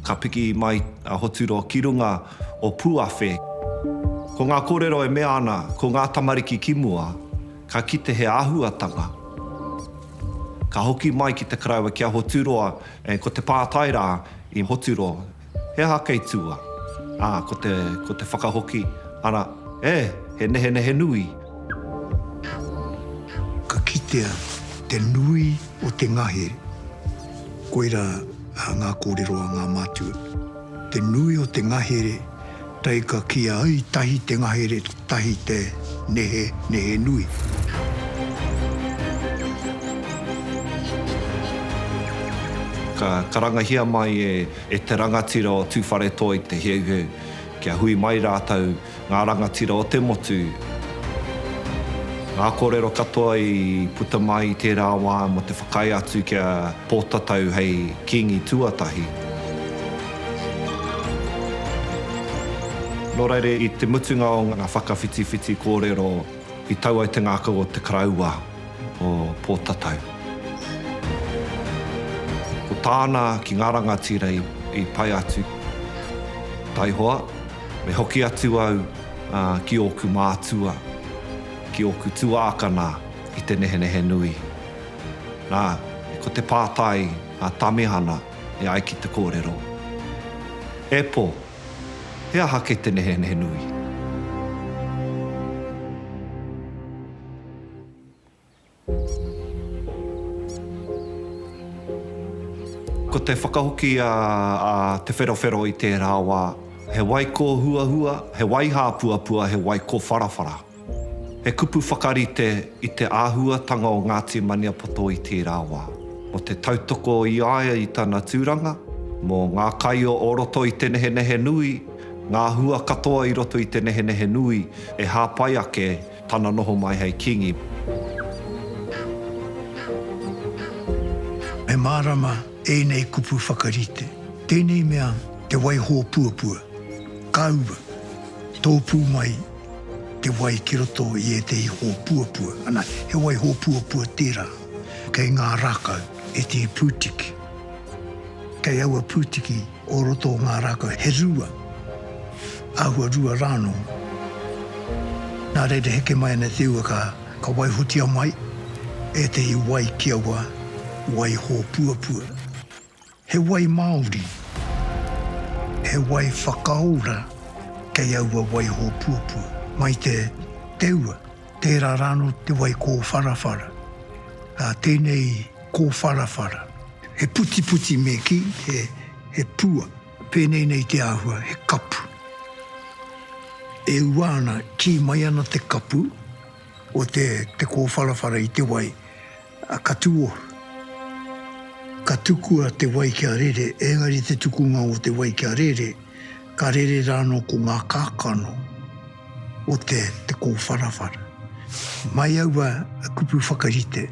Ka piki mai a Hoturo ki runga o Puawhe. Ko ngā kōrero e mea ana ko ngā tamariki ki mua, ka kite he āhuatanga. Ka hoki mai ki te karaua ki a Hoturoa and ko te pātai rā i Hoturo, He aha kei tua? Ā, ko te, ko te whakahoki, ara, e, he nehenehe nui. Ka kitea te nui o te ngahere. Koirā ngā kōrero a ngā mātua. Te nui o te ngahere Tei ka kīa ai tahi te ngahere tahi te nehe, nehe nui. Ka karangahia mai e te rangatira o Tūwharetoi te heuheu kia hui mai rātou ngā rangatira o te motu. Ngā kōrero katoa i puta mai i tērā wā mō te whakaae atu ki a Pōtatau hei Kīngi tuatahi. Nō reira, i te mutunga o ngā whakawhitiwhiti kōrero, i tau ai te ngākau o Te Karaua o Pōtatau. Ko tāna ki ngā rangatira i pai atu, Taihoa, me hoki atu au ki ōku mātua, ki ōku tuākana i te nehenehe nui. Nā, ko te pātai a Tamihana, E ai ki te kōrero, E pō, he aha kē te nehenehe nui? Ko te whakahoki a Te Wherowhero i tērā wā, he wai kōhuahua, he wai hāpuapua, he wai kōwharawhara. He kupu whakarite i te āhuatanga o Ngāti Maniapoto i tērā wā, mō te tautoko i a ia i tana tūranga, mō ngā kai o o roto i te nehenehe nui, ngā hua katoa i roto i te nehenehe nui e hāpai ake tana noho mai hei kīngi. Me mārama ēnei kupu whakarite, tēnei mea te waiho puapua, kāua, tōpū mai, Te wai ki roto i ētehi hōpuapua. Ana, he wai hōpuapua tērā. Kei ngā rākau ētehi pūtiki. Kei aua pūtiki o roto o ngā rākau he rua, āhua rua rā anō. Nā reira heke mai ana te ua ka waihotia mai ētehi wai ki aua wai hōpuapua. He wai māori, he wai whakaora kei aua wai hōpuapua. Mai te teua, tērā rāno te wai kōwharawhara, ā, tēnei kōwharawhara. He putiputi me kī, he pua. Pēnei nei te āhua, he kapu. E ua ana, kī mai ana te kapu. O te te kōwharawhara i te wai, a ka tūohu. Ka tukua te wai kia rere, ēngari te tukunga o te wai kia rere, ka rere rānō ko ngā kākano o te te kōwharawhara. Mai aua kupu whakarite,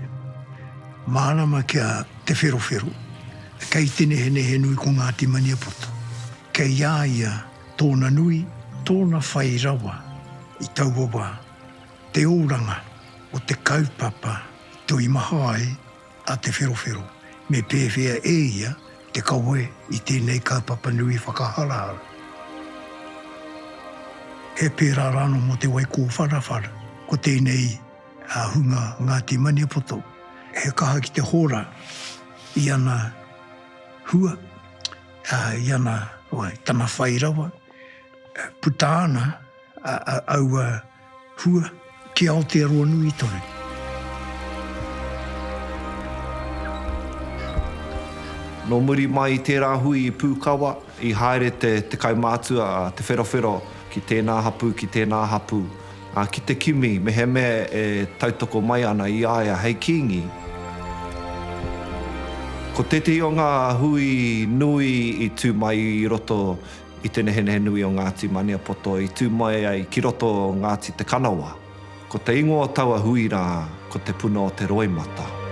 mārama kia Te Wherowhero, kei te nehenehe nui ko Ngāti Maniapoto. Kei a ia tōna nui, tōna whai rawa i taua wā. Te oranga o te kaupapa i toimaha ai a Te Wherowhero me pēwhea e ia te kawe i tēnei kaupapa nui whakaharahara. He pērā rānō mō Te Wai Kōwharawhara, ko tēnei hunga Ngāti Maniapoto, he kaha ki te hora i ana hua, i ana wai, tana whai rawa, puta ana, aua hua ki Aotearoa nui tonu. Nō muri mai i tērā hui i Pūkawa, i haere te, te kaumātua, Te Wherowhero, ki tēnā hapū, ki tēnā hapū, ā, ki te kimi mehemea e tautoko mai ana i a ia hei kīngi. Ko tētehi o ngā hui nui i tū mai i roto I te nehenehe nui o Ngāti Maniapoto i tū mai ai ki roto o Ngāti Te Kanawa, ko te ingoa o taua hui rā ko Te Puna o Te Roimata.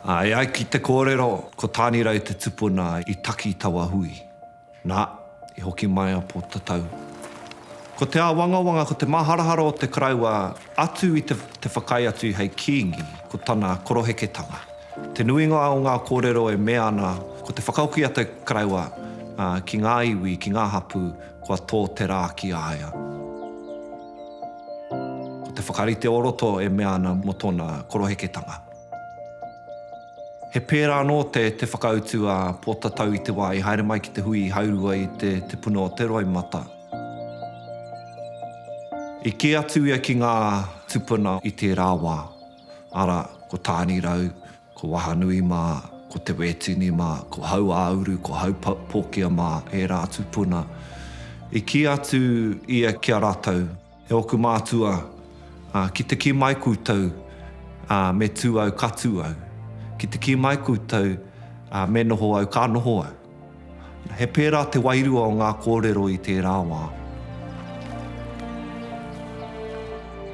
E ai ki te kōrero, ko Tānirau te tupuna i taki taua hui. Nā, i hoki mai a Pōtatau. Ko te āwangawanga, ko te māharahara o te Karaua atu i te whakaae atu hei kīngi, ko tana koroheketanga. Te nuinga o ngā kōrero e mea ana ko te whakahoki a te karaua ki ngā iwi, ki ngā hapū, kua tō te rā ki a ia. Ko te whakarite o roto e mea ana mō tōna koroheketanga. He pērā anō te whakautu a Pōtatau i te wā i haere mai ki te hui i haurua i te puna o te roimata. I kī atu ia ki ngā tūpuna i tērā wā. Arā, ko Tānirau, ko Wahanui mā, ko Te Wētini mā, ko Hauāuru, ko Haupōkia mā, ērā atu puna. I kī atu ia ki a rātou, E ōku mātua, ki te kī mai koutou, me tū au, ka tū au. Ki te kī mai koutou, me noho au, ka noho au. He pērā te wairua o ngā kōrero i tērā wā.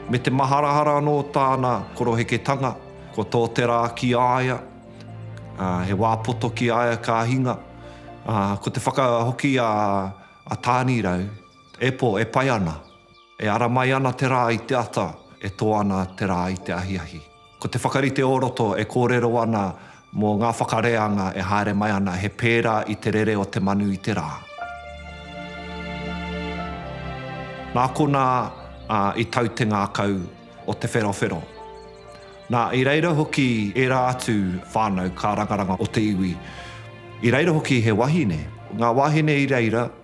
Me te maharahara anō tāna koroheketanga, ko tō te rā ki a ia, he wā poto ki a ia ka hinga. Ko te whakahoki a Tānirau, e pō, e pai ana. E ara mai ana te rā i te ata, e tō ana te rā i te ahiahi. Ko te whakarite o roto e kōrero ana mō ngā whakareanga e haere mai ana, he pērā i te rere o te manu i te rā. Nā konā i tau te ngākau o Te Wherowhero. Nā, i reira hoki ērā atu whānau kārangaranga o te iwi. I reira hoki he wahine. Ngā wāhine i reira.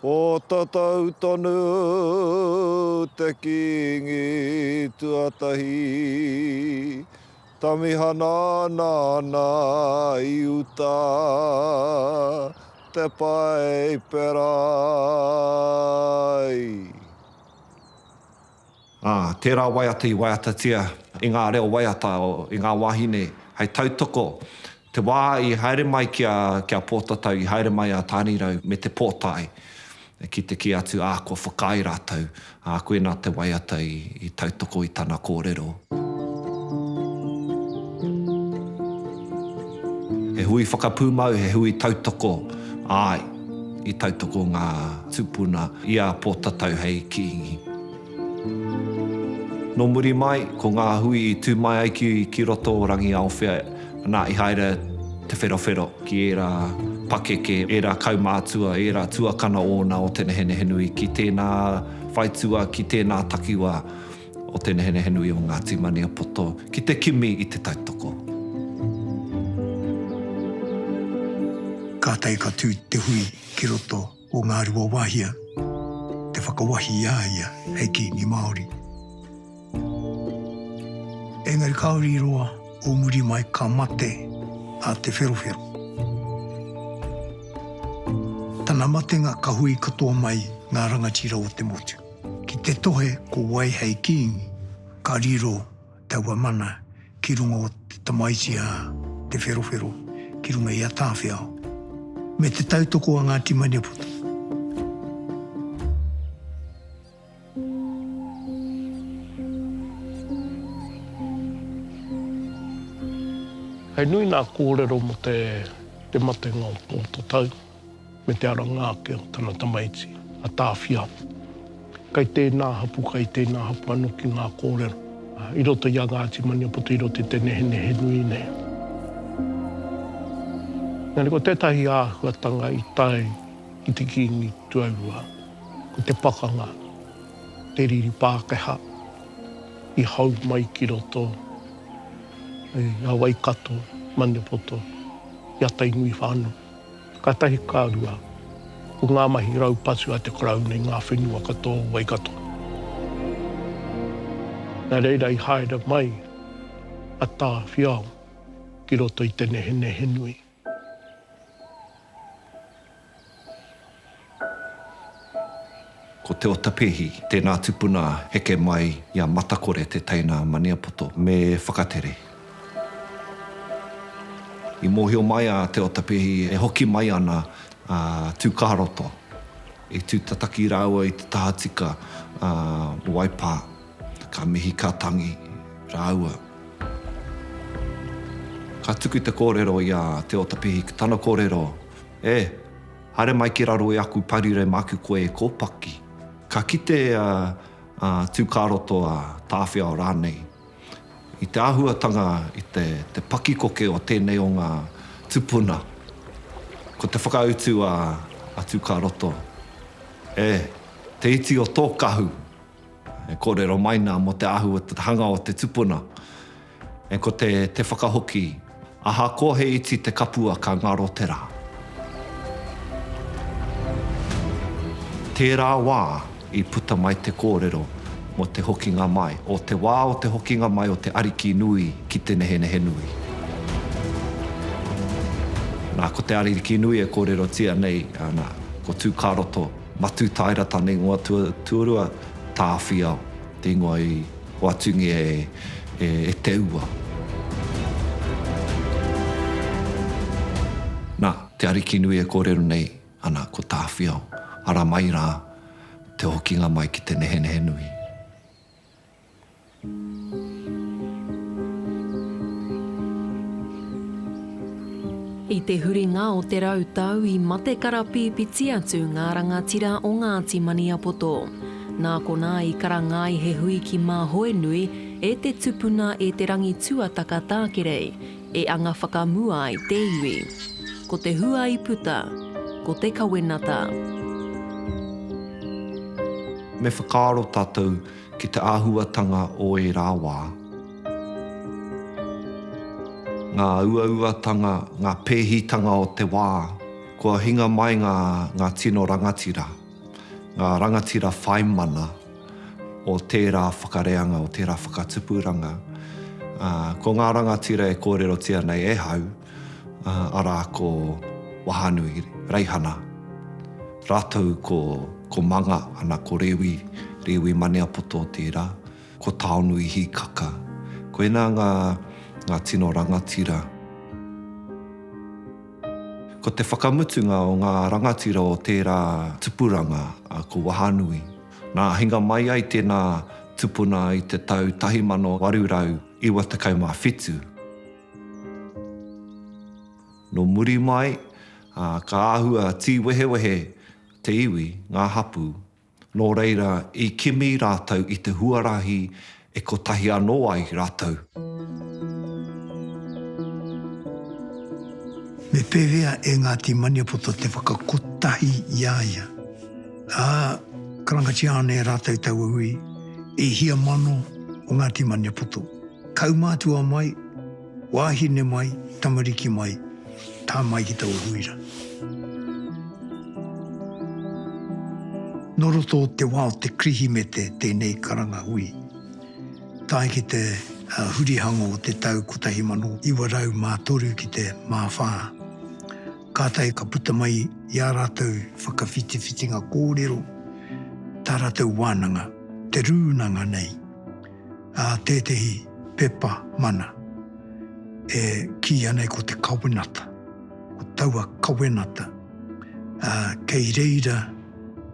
Ko tatou tonu te kingi tuatahi Tamihana nana i uta te paipera ai. Ā, tērā waiata i waiatatia i ngā reo waiata i ngā wāhine hei tautoko. Te wā i haere mai ki a, ki a Pōtatau, i haere mai a Tānirau me Te Pōtae ki te kī atu, ā, kua whakaae rātou, ā, koinā te waiata i, i tautoko i tana kōrero. He hui whakapūmau, he hui tautoko, āe, i tautoko ngā tūpuna i a Pōtatau hei kīngi. Nō muri mai, ko ngā hui i tū mai ai ki roto o Rangiaowhia, nā, i haere Te Wherowhero ki ērā pakeke, ērā kaumātua, ērā tuakana ōna o Te Nehenehenui, ki tēnā whaitua, ki tēnā takiwā o Te Nehenehenui o Ngāti Maniapoto, ki te kimi i Te Taitoko. Kātahi ka tū te hui ki roto. Ko Ngāruawāhia te whakawahi i a ia hei Kīngi Māori. Engari kāore i roa o muri mai ka mate a Te Wherowhero. Tana matenga ka hui katoa mai ngā rangatira o te motu. Ki te tohe ko wai hei Kīngi, ka riro taua mana ki runga o te tamaiti a Te Wherowhero ki runga i a Tāwhiao, me te tautoko a Ngāti Maniapoto. He nui nā kōrero mō te matenga o tō tatau. me te aranga ake o tana tamaiti, a Tāwhia. Kai tēnā hapū, kai tēnā hapū anō ki ngā kōrero i roto i a Ngāti Maniapoto i roto i te nehenehe nui nei. Engari ko tētahi āhuatanga i tae ki te Kīngi tuarua, ko te pakanga, te riri Pākehā i hau mai ki roto i a Waikato, Maniapoto, i a Tainui whānui. Ka tahi, ka rua, ko ngā mahi raupatu a te Karauna i ngā whenua katoa o Waikato. Nā reira i haere mai a Tāwhiao ki roto i te nehenehe nui. Ko Te Otapehi tēnā tupuna heke mai i a Matakore te teina a Maniapoto me Whakatere. I mōhio mai a Te Otapehi e hoki mai ana a Tūkāroto, i tūtataki rāua i te tahatika a Waipā, ka mihi ka tangi rāua. Ka tuku te kōrero i a Te Otapehi, tana kōrero, E! Haere mai ki raro i aku parire ma aku koe e kōpaki. Ka kite a Tūkāroto, a Tāwhiao rānei i te āhuatanga, i te pakikoke o tēnei o ngā tupuna. Ko te whakautu a Tūkāroto, E, te iti o tō kahu! E kōrero mai nā mō te āhua, te hanga o te tupuna. And ko te te whakahoki, Ahakoa he iti te kapua ka ngaro te ra. Tērā wā i puta mai te kōrero mō te hokinga mai, o te wā o te hokinga mai o te Ariki nui ki Te Nehenehe nui. Na, ko te Ariki nui e kōrerotia nei, ana, ko Tū-kā-roto, Matū-tāera-tane-ingoa-tuarua, Tāwhiao. Ingoa i whatungia e te ua. Na, te Arikinui e korero nei ana ko Tawhiao, ara mai ra te hokinga mai ki te nehenehe nui. I te huringa o te rau tau i mate karapīpiti atu ngā rangatira o Ngāti Maniapoto. Nā konā i karanga ai he hui ki Māhoenui, e te tupuna e Te Rangi Tuataka Tākerei, e anga whakamua ai te iwi. Ko te hua i puta, ko te kawenata. Me whakaaro tātou ki te āhuatanga o ērā wā. Ngā uauatanga, ngā pēhitanga o te wā, kua hinga mai ngā tino rangatira. ngā rangatira whai mana o tērā whakareanga, o tērā whakatupuranga, ā, ko ngā rangatira e kōrerotia nei e hau, ā, arā ko Wahanui Reihana rātou ko, ko Manga ana ko Rewi, Rewi Maniapoto tērā, ko Taonui Hikaka. Koinā ngā, ngā tino rangatira. Ko te whakamutunga o ngā rangatira o tērā tupuranga ko Wahanui. Nā hinga mai ai tēnā tupuna i te tau 1897. Nō muri mai, ka āhua tīwehewehe te iwi, ngā hapū, Nō reira, i kimi rātou i te huarahi e kotahi anō ai rātou. Me pēwhea e Ngāti Maniapoto te whakakotahi i a ia? Ā, karangatia ana e rātou taua uri, E hia mano o Ngāti Maniapoto, kaumātua mai, Wāhine mai, tamariki mai, tā mai ki taua huira. Nō roto o te wā o te Kirihimete tēnei karanga hui, tae ki te hurihango o te tau 1903 ki te māwhā. Kātahi ka puta mai i ā rātou whakawhitiwhitinga kōrero tā rātou wānanga, te rūnanga nei. ā, tētehi pepa mana e kīia nei ko te kawenata, ko taua kawenata, ā, kei reira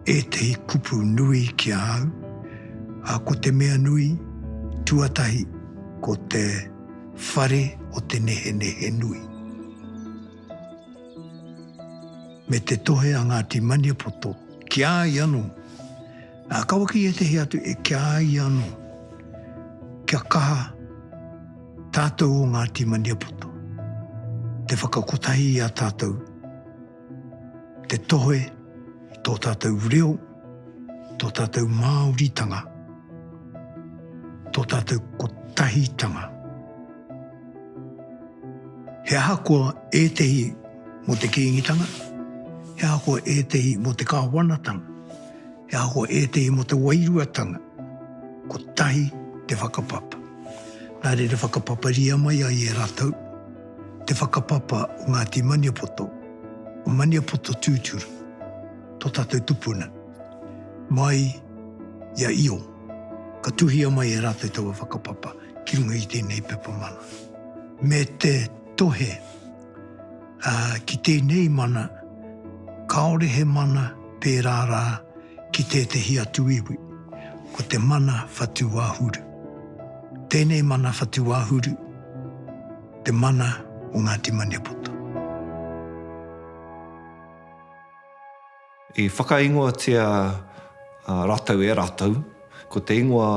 ētehi kupu nui ki a au, ā, ko te mea nui, tuatahi, ko te whare o te nehenehe nui. Me te tohe a Ngāti Maniapoto ki a ia anō, Ā, kaua ki ētehi atu e kia ai anō, kia kaha tātou o Ngāti Maniapoto, te whakakotahi i a tātou, te tohe i tō tātou reo, tō tātou Māoritanga, tō tātou kotahitanga. He ahakoa ētehi mō te Kīngitanga, he ahakoa ētehi mō te Kāwanatanga, He ako ētehi mō te wairuatanga, kotahi te whakapapa. Nā reira whakapaparia mai ai e ratou te whakapapa o Ngāti Maniapoto, o Maniapoto tūturu, tō tatou tupuna, mai i a Io. Ka tuhia mai e ratou taua whakapapa ki runga i tēnei pepa mana. Me te tohe. Ā, ki tēnei mana, kāore he mana pērā rā ki tētehi atu iwi, ko te mana whatuwāhuru. Tēnei mana whatuwāhuru, te mana o Ngāti Maniapoto. I whakaingoatia rātou e rātou, ko te ingoa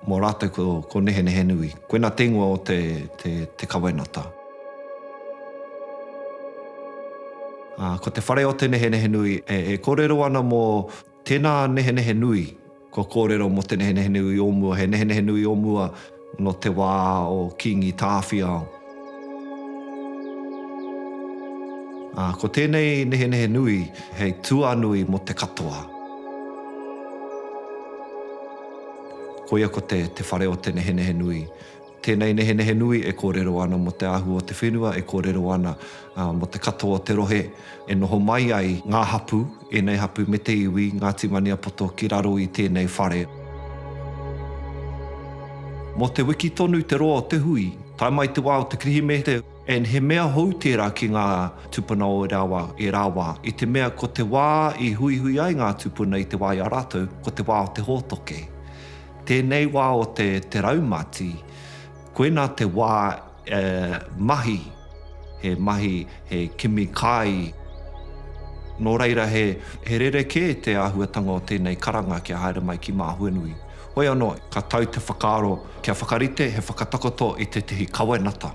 mō rātou ko, ko Nehenehenui. Koinā te ingoa o te, te, te kawenata. Ā, ko te whare o te Nehenehenui e, e kōrero ana mō tēnā nehenehe nui. Kua kōrero mō te nehenehe nui o mua, he nehenehe nui o mua nō te wā o Kīngi Tāwhiao. Ā, ko tēnei nehenehe nui hei tuanui mō te katoa. Koia ko te, te whare o te nehenehe nui. Tēnei nehenehe nui e kōrero ana mō te āhua o te whenua, e kōrero ana mō te katoa o te rohe e noho mai ai ngā hapū, ēnei hapū me te iwi, Ngāti Maniapoto ki raro i tēnei whare. Mō te wiki tonu te roa o te hui, tae mai te wā o te Kirihimete, and he mea hou tērā ki ngā tūpuna o ērā wā, ērā wā, i te mea ko te wā i huihui ai ngā tūpuna i te wā i a rātou, ko te wā o te hōtoke. Tēnei wā o te te raumati, koinā te wā e mahi, he mahi, he kimi kai. Nō reira he he rerekē te āhuatanga o tēnei karanga kia haere mai ki Māhuenui. Hoi anō, ka tau te whakaaro kia whakarite he whakatakoto i tētehi kawenata,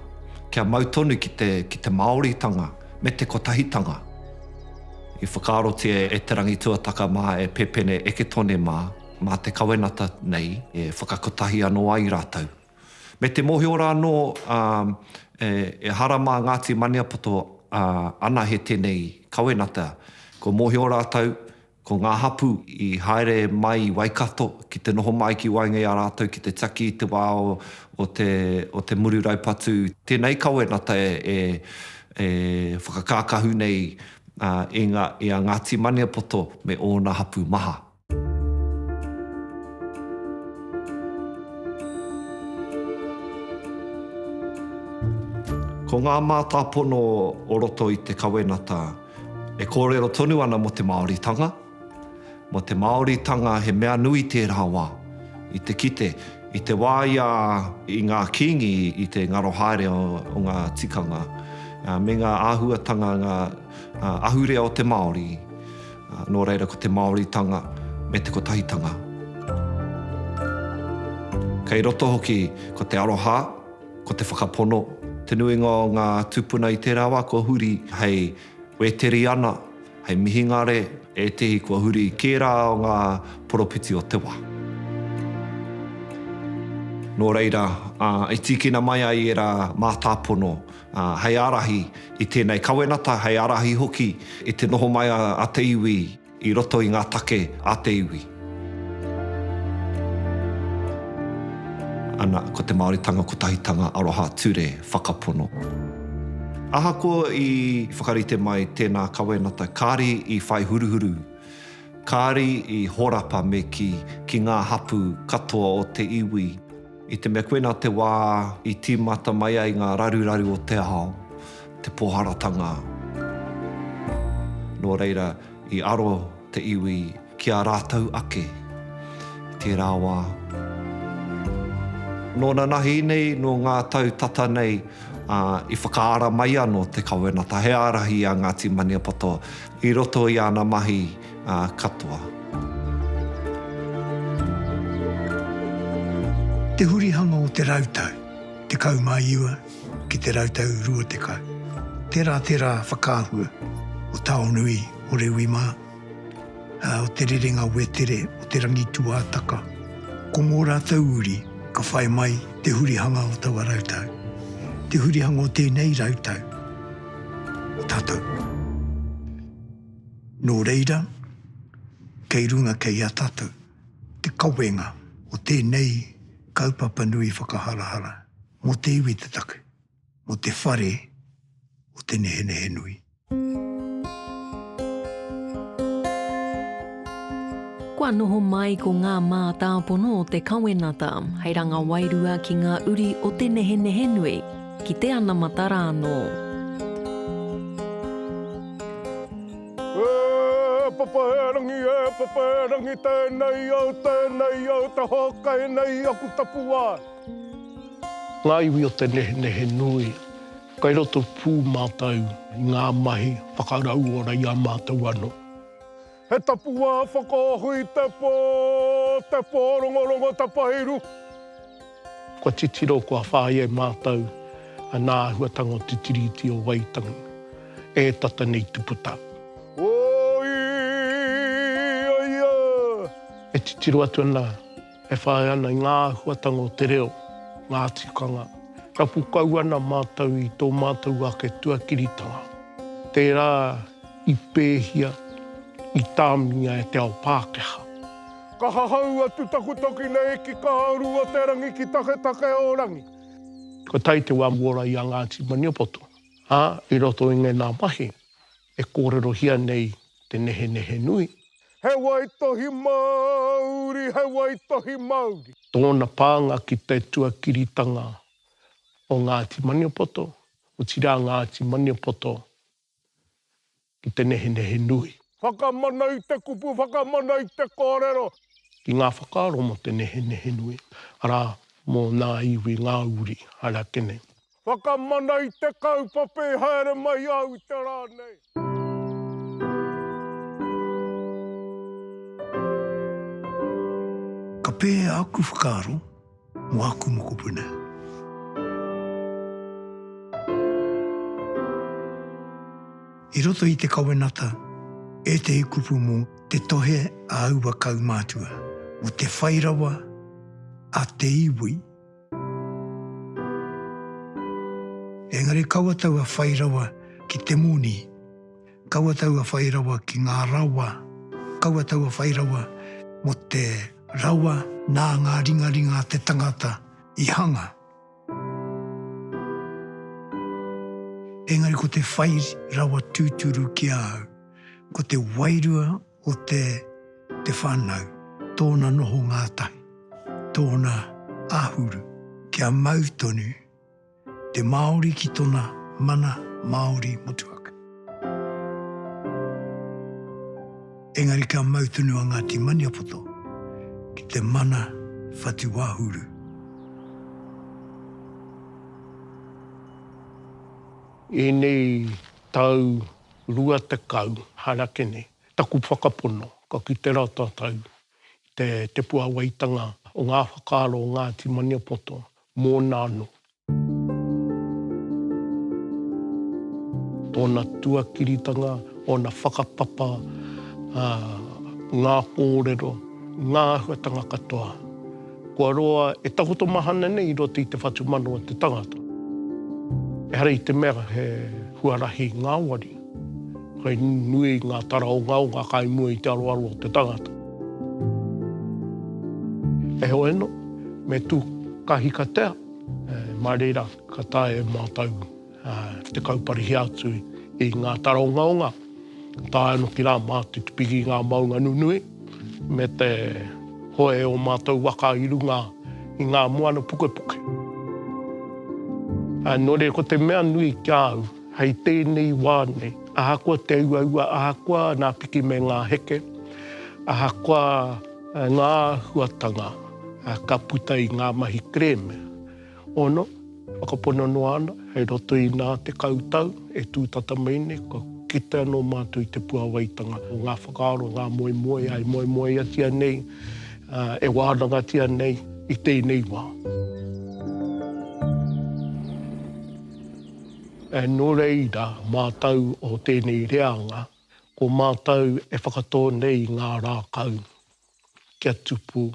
kia mau tonu ki te ki te Māoritanga me te kotahitanga. I whakaarotia e Te Rangituataka mā, e Pepene Eketone mā, mā te kawenata nei e whakakotahi anō ai rātou. Me te mōhio rā anō, ā, e, ehara mā Ngāti Maniapoto, ā, anahe tēnei kawenata. Kua mōhio rātou, ko ngā hapū i haere mai i Waikato ki te noho mai ki waenga i a rātou ki te taki i te wā o, o te, o te muru raupatu. Tēnei kawenata e, e, e whakakākahu nei, ā, i ngā, i a Ngāti Maniapoto me ōna hapū maha. Ko ngā mātāpono o roto i te kawenata e kōrero tonu ana mō te Māoritanga. Mō te Māoritanga he mea nui tērā wā. I te kite, i te wā i a, i ngā Kīngi i te ngaro haere o ngā tikanga me ngā āhuatanga ngā ahurea o te Māori, Nō reira ko te Māoritanga me te Kotahitanga. Kei roto hoki ko te aroha, ko te whakapono. Te nuinga o ngā tūpuna i tērā wā kua huri hei Wēteriana, hei mihingare, ētehi kua huri i kērā o ngā poropiti o te wā. Nō reira, i tīkina mai ai ērā mātāpono. hei ārahi i tēnei kawenata, hei ārahi hoki i te noho mai a te iwi i roto i ngā take a te iwi. Ana, ko te Māoritanga Kotahitanga Aroha Ture Whakapono. Ahakoa i whakarite mai tēnā kawenata, kāri i whai huruhuru, kāri i horapa me kī ki ngā hapū katoa o te iwi. I te mea koinā te wā i tīmata mai ai ngā raruraru o te ao, te pōharatanga. Nō reira, i aro te iwi ki a rātou ake i tērā wā. Nō nanahi nei, nō ngā tau tata nei, i whakaara mai anō te kawenata, he ārahi a Ngāti Maniapoto i roto i ana mahi, ā katoa. Te hurihanga o te rautau tekau mā iwa ki te rautau rua tekau, tērā te rā whakaahua o Taonui, o Rewi mā, ā, o Te Rerenga Wetere, o Te Rangi Tuātaka. Ko ngō rātou uri ka whai mai te hurihanga o taua rautau, te hurihanga o tēnei rautau o tātou. Nō reira, kei runga kei a tātou te kawenga o tēnei kaupapa nui whakaharahara mō te iwi te take, mō te whare o Te Nehenehe Nui. Kua noho mai ko ngā mātāpono o te kawenata hei ranga wairua ki ngā uri o Te Nehenehe Nui. Ki te anamata rānō. E papa e rangi e papa e rangi tenei au tenei au te hokai nei i aku tapuwae. Ngā iwi o te nehenehe nui, kai roto pū mātou i ngā mahi whakarauora i a mātou anō. He tapuwaā whakaahu i te pō, te pōrongorongo tapairu. Kua titiro, kua whāia e mātou nā āhuatanga o te Tiriti o Waitangi e tata nei te puta. Oi, oia! E titiro atu ana. e whai ana i ngā āhuatanga o te reo, ngā tikanga. Rapu kau ana mātou i tō mātou ake tuakiritanga, tērā i pēhia, i tāmingia e te ao Pākehā. Ka hahau atu taku toki nei ki Kahauru o te Rangi ki Taketake o Rangi. Kua tae te wā mua ora i a Ngāti Maniapoto, ā, i roto i ngēnā mahi. E kōrerohia nei te nehenehe nui. He waitohi mauri, he waitohi mauri. Tōna pānga ki te tuakiritanga o Ngāti Maniapoto, otirā Ngāti Maniapoto ki te nehenehe nui. Whakamana i te kupu, whakamana i te kōrero. Ki ngā whakaaro mō te nehenehe nui, arā, mō ngā iwi, ngā uri, arā, tēnei. Whakamana i te kaupapa i haere mai au i te rā nei. Ka pēhea aku whakaaro mō aku mokopuna? I roto i te kawenata ētehi kupu mō te tohe a aua kaumātua, mō te whai rawa a te iwi, Engari kaua taua whai rawa ki te moni, kaua taua whai rawa ki ngā rawa, kaua taua whai rawa mō te rawa nā ngā ringaringa a te tangata i hanga. Engari ko te whai rawa tūturu ki a au, ko te wairua, o te te whanau, tōna noho ngātahi, tōna ahuru. Kia mau tonu te Māori ki tona mana Māori motuhake. Engari kia mau tonu a Ngāti Maniapoto ki te mana whatuahuru. Enei tau Rua tekau, harakene, taku whakapono, ka kite rā tātou i te, te puāwaitanga o ngā whakaaro o Ngāti Maniapoto, mōna anō. Tōna tuakiritanga, ōna whakapapa, ā, ngā kōrero, ngā āhuatanga katoa. Kua roa e takoto mahana nei i roto i te whatumana o te tangata. Ehara i te mea he huarahi ngāwari, kei nui ngā taraongaonga kai mua i te aroaro o te tangata. Heoi anō, me tū kahikatea, mā reira ka taea e mātou te kauparihi atu i ngā taraongaonga, tae ano ki rā mā te tipiki i ngā maunga nunui, me te hoe o mātou waka i runga i ngā moana pukepuke. Nō reira, ko te mea nui ki a au, hei tēnei wā nei, ahakoa te uaua, ahakoa nā piki me ngā heke, ahakoa ngā āhuatanga ka puta i ngā mahi kerēme, Ono, whakapono noa ana, hei roto i nā tekau tau e tū tata mai nei, kua kite anō mātou i te puāwaitanga o ngā whakaaro, ngā moemoeā e moemoeatia nei, e wānangatia nei i tēnei wā. Nō reira, mātou o tēnei reanga, ko mātou e whakatō nei i ngā rākau. kia tupu,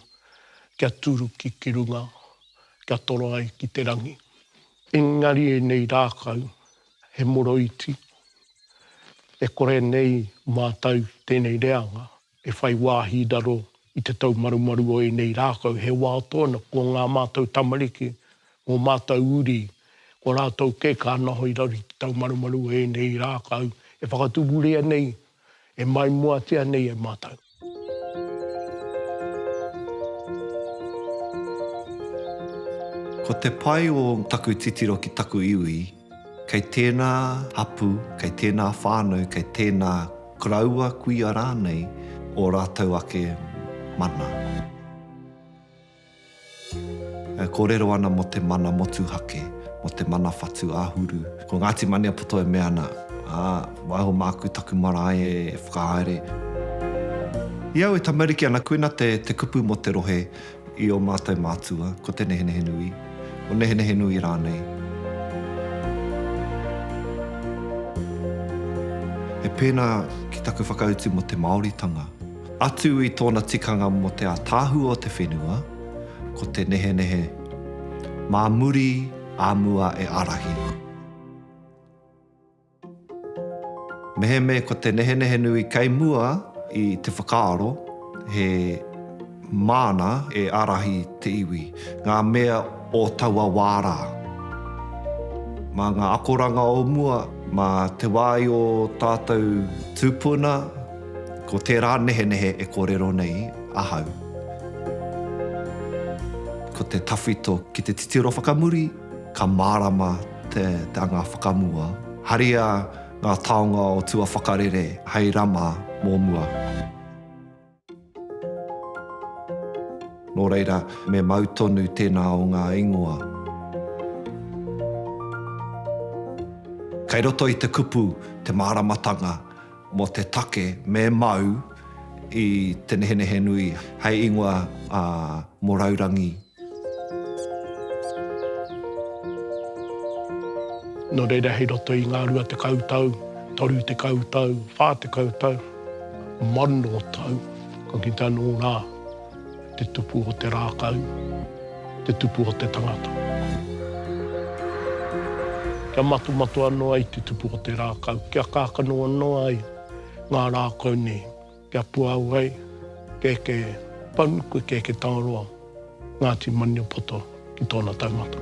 kia turuki ki runga, kia toro ai ki te rangi. Engari ēnei rākau he moroiti, e kore nei mātou ki tēnei reanga e whai wāhi raro i te taumarumaru o ēnei rākau, he wā tōna ko ngā mātou tamariki, ngō mātou uri, ko rātou kē ka ana hoi raro ki te taumarumaru o ēnei rākau e whakatupuria nei E maimoatia nei e mātou. Ko te pai o taku titiro ki taku iwi, kei tēnā hapū, kei tēnā whānau, kei tēnā koroua kuia rānei ō rātou ake mana. E kōrero ana mō te mana motuhake, mō te mana whatu āhuru. Ko Ngāti Maniapoto e mea ana, ā, waiho māku taku marae e whakahaere. I au e tamariki ana koina te kupu mō te rohe i ō mātou mātua, ko Te Nehenehenui, o Nehenehenui rānei. He pēnā ki taku whakautu mō te Māoritanga. Atu i tōna tikanga mō te ātaahua o te whenua, ko te nehenehe, mā muri, ā mua e ārahi. Mehemea ko te nehenehe nui kei mua i te whakaaro, he māna e ārahi te iwi, ngā mea o taua wā rā. Mā ngā akoranga o mua, mā te wā i ō tātou tūpuna, Ko tērā nehenehe e kōrero nei ahau, ko te tawhito ki te titiro whakamuri, ka mārama te anga whakamua. Haria ngā taonga o tua whakarere hei rama mō mua. Nō reira, me mau tonu tēnā o ngā ingoa. Kei roto i te kupu te māramatanga mō te take me mau i te nehenehe nui hei ingoa mō raurangi. Nō reira, hei roto i ngā rua tekau tau, toru tekau tau, whā tekau tau, mano tau, ka kitea nō rā te tupu o te rākau, te tupu o te tangata. Kia matomato anō ai te tupu o te rākau, kia kākano anō ai ngā rākau nei. Kia puāu ai, kēkē Paunuku, kēkē Tangaroa, Ngāti Maniapoto ki tōna taumata.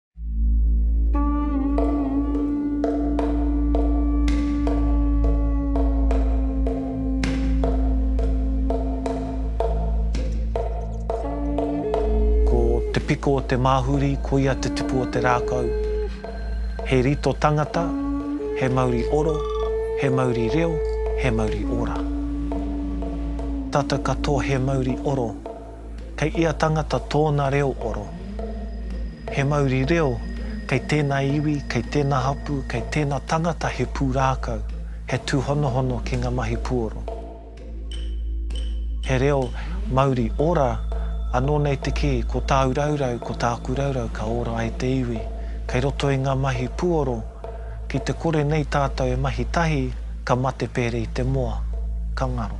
Ko te piko o te māhuri, koia te tupu o te rākau. He rito tangata, he mauri oro, he mauri reo, he mauri ora. Tata katoa he mauri oro. Kei ia tangata tōna reo oro. He mauri reo, kei tēnā iwi, kei tēnā hapū, kei tēnā tangata he pūrākau, he tūhonohono ki ngā mahi puoro. He reo mauri ora, anō nei te kī, ko tāu raurau, ko tāku raurau ka ora ai te iwi. Kei roto i ngā mahi puoro, ki te kore nei tātou e mahi tahi, ka mate pērē i te moa. Ka ngaro.